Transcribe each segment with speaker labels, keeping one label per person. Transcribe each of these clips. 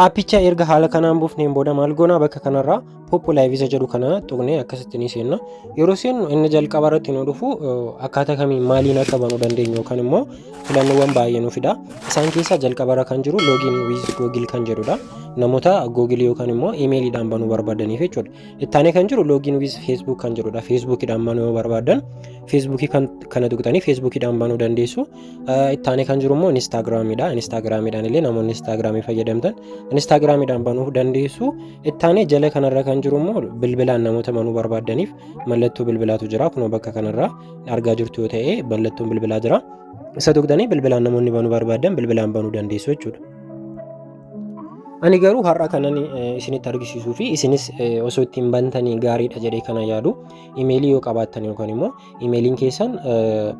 Speaker 1: Aappicha erga haala kanaan buufneen booda maal goonaa bakka kanarraa pooppu laayivisa jedhu kana tuqnee akkasitti ni seenna. Yeroo seennu inni jalqaba irratti nu dhufu akkaataa kamiin maaliin akka banuu dandeenyu yookaan immoo filannoowwan baay'ee nu fida. Isaan keessaa jalqaba irra kan jiru loogiin wiiz googil kan jedhudha. Namoota googilii yookaan immoo imeeliidhaan banuu barbaadaniif jechuudha. Ittaanee kan jiru loogiin wiiz feesbuuk kan jedhudha. Feesbuukiidhaan banuu yoo barbaadan feesbuukii kana tuqxanii feesbuukiidhaan banuu dandeessu. Ittaanee kan jiru immoo Inistaagiraamiidha. Inistaagiraamiidhaan illee namoonni Inistaagiraamii fayyadamtan Inistaagiraamiidhaan banuuf dandeessu. Ittaanee jala kanarra kan jiru immoo bilbilaan namoota banuu barbaaddaniif mallattoo bilbilaatu jira. Kunoo bakka kanarraa argaa jirtu yoo ta'e mallattoon bilbilaa jira. Isa tuqxanii bilbilaan namoonni banuu barbaadan bilbilaan banuu dandeessu jechuudha. Ani garuu har'a kanan isinitti argisiisuu fi isinis osoo ittiin bantanii gaariidha jedhee kana yaadu imeelii yoo qabaattan yookaan immoo Imeeliin keessan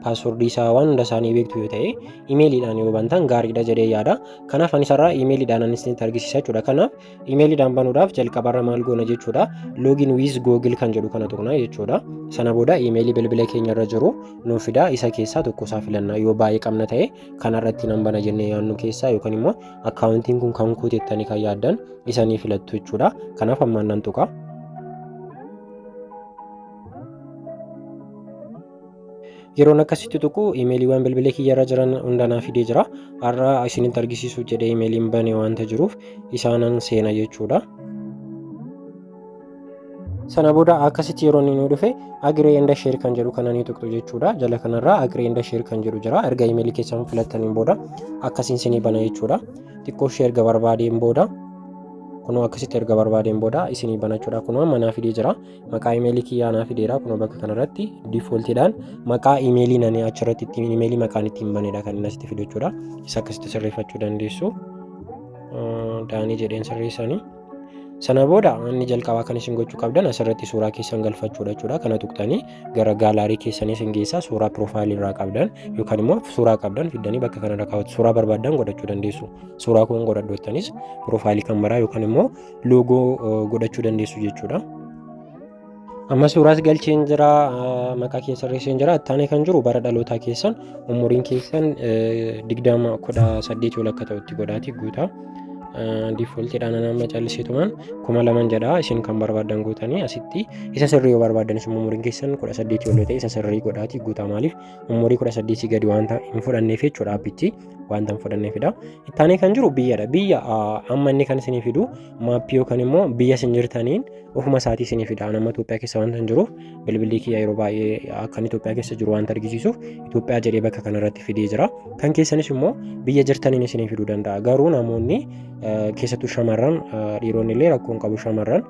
Speaker 1: paaswordii isaa waan hunda isaanii beektu yoo ta'e imeeliidhaan yoo bantan gaariidha jedhee yaada. Kanaaf anis irraa imeeliidhaan anis isinitti argisiisa jechuudha. Kanaaf imeeliidhaan banuudhaaf jalqabarra maal goona jechuudha. Login with Google kan jedhu kana tuqna jechuudha. Sana booda imeelii bilbila keenya irra jiru nuuf fida isa keessaa tokko isaa filanna yoo baay'ee qabna ta'e kanarratti nan bana jennee yaannu keessaa yookaan immoo akkaawuntiin kun kan kuutettanii kan yaaddan isanii filattu jechuudha. Kanaaf ammaan nan tuqa. yeroon akkasitti tuqu imeeliiwwan bilbila kiyyarra jiran hundanaa fidee jira har'a isinitti argisiisuuf jedhee imeeliin bane waanta jiruuf isaanan seena jechuudha. sana booda akkasitti yeroo inni nu dhufe agree enda sheer kan jedhu kana ni tuqxu jechuudha jala kanarraa agree enda sheer kan jedhu jira erga imeelii keessan filattaniin booda akkasiin sinii bana jechuudha xiqqoo ishee erga barbaadeen booda kunoo akkasitti erga barbaadeen booda isinii banachuudha kunoo manaa fidee jira maqaa imeelii kiyyaa naa fideera kunoo bakka kanarratti diifooltiidhaan maqaa imeelii nani achirratti ittiin imeelii maqaan ittiin banedha kan inni asitti fidu jechuudha isa akkasitti sirreeffachuu dandeessu daanii jedheen sirreessanii sana booda inni jalqabaa kan isin gochuu qabdan asirratti suuraa keessan galfachuudha jechuudha kana tuqtanii gara gaalaarii keessanii isin geessaa suuraa piroofaayilii irraa qabdan yookaan immoo suuraa qabdan fiddanii bakka kanarra kaawwatu suuraa barbaadan godhachuu dandeessu suuraa kun godhadhoottanis piroofaayilii kan maraa yookaan immoo loogoo godhachuu dandeessu jechuudha. Amma suuraas galcheen jira maqaa kee sirreesseen jira ittaanee kan jiru bara dhalootaa keessan umuriin keessan digdama kudha saddeet yoo lakka ta'utti godhaati guutaa. Diifooltiidhaan nama callisitumaan kuma laman jedha isin kan barbaadan guutanii asitti isa sirrii yoo barbaadan isin umuriin keessan kudha saddeet yoo ta'e isa sirrii godhaati guutaa maaliif umurii kudha saddeetii gadi waan hin fudhanneef jechuudha abbichi. wanta hin fudhannee fida. Ittaanee kan jiru biyyadha. Biyya amma inni kan isinii fidu maappii yookaan immoo biyya isin jirtaniin ofuma isaatii isinii fida. Ani amma Itoophiyaa keessa wanta hin jiruuf bilbilli kiyya yeroo baay'ee akkan Itoophiyaa keessa jiru wanta argisiisuuf Itoophiyaa jedhee bakka kanarratti fidee jira. Kan keessanis immoo biyya jirtaniin isinii fiduu danda'a. Garuu namoonni keessattuu shamarran dhiironni illee rakkoo hin qabu shamarran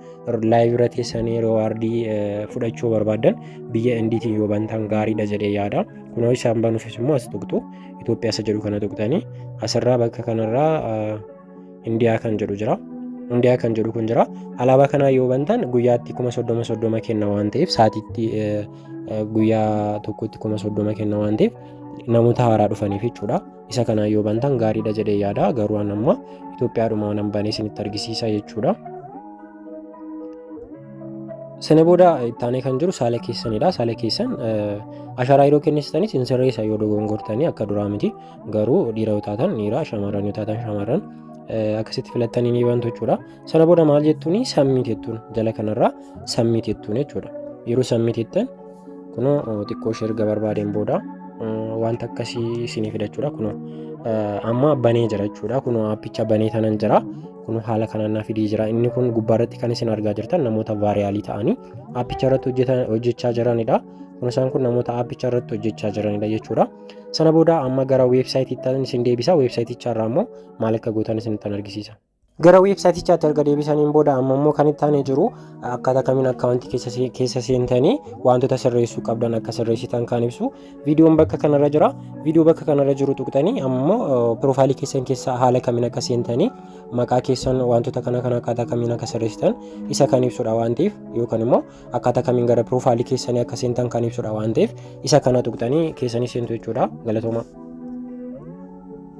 Speaker 1: laayiv irra teessanii yeroo waardii fudhachuu barbaadan biyya indiitiin yoo bantan gaariidha jedhee yaada. Kunoo isaan banuufis immoo as tuqxu. Itoophiyaa isa jedhu kana tuqxanii asirraa bakka kanarraa Indiyaa kan jedhu jira. Indiyaa kan jedhu kun jira. Alaabaa kanaa yoo bantan guyyaatti kuma soddoma soddoma kenna waan ta'eef saatiitti guyyaa tokkotti kuma soddoma kenna waan ta'eef namoota haaraa dhufaniif jechuudha. Isa kanaa yoo bantan gaariidha jedhee yaada. Garuu amma Itoophiyaadhuma waan banee isinitti argisiisa jechuudha. Sana booda ittaanee kan jiru saala keessanidha. Saala keessan ashaaraa yeroo kennitanis hin sirreessa yoo dogongortanii akka duraa miti. Garuu dhiira yoo taatan dhiira shamarran yoo taatan shamarran akkasitti filattanii ni bantu jechuudha. Sana booda maal jettuun sammii jettuun jala kanarraa sammii jettuun jechuudha. Yeroo sammii jettan kunoo xiqqoo ishee erga barbaadeen booda wanta akkasii isinii fidachuudha kunoo amma banee jira jechuudha kunoo appicha banee tanan jira kun haala kanaan naa fidee jira inni kun gubbaa irratti kan isin argaa jirtan namoota vaariyaalii ta'anii aappicha irratti hojjechaa jiranidha kun isaan kun namoota aappicha irratti hojjechaa jiranidha jechuudha sana booda amma gara weebsaayitiittan isin deebisa weebsaayiticha irraa immoo maal akka gootan isinittan argisiisa gara weebsaayitichaatti erga deebisaniin booda amma immoo kan itti aanee jiru akkaataa kamiin akkaawuntii keessa seentanii wantoota sirreessuu qabdan akka sirreessitan kan ibsu Viidiyoon bakka kanarra jira. Viidiyoo bakka kanarra jiru tuqxanii ammoo piroofaayilii keessan keessa haala kamiin akka seentanii maqaa keessan wantoota kana kana akkaataa kamiin akka sirreessitan isa kan ibsudha waan ta'eef yookaan immoo akkaataa kamiin gara piroofaayilii keessanii akka seentan kan ibsudha waan ta'eef isa kana tuqxanii keessanii seentu jechuudha galatooma.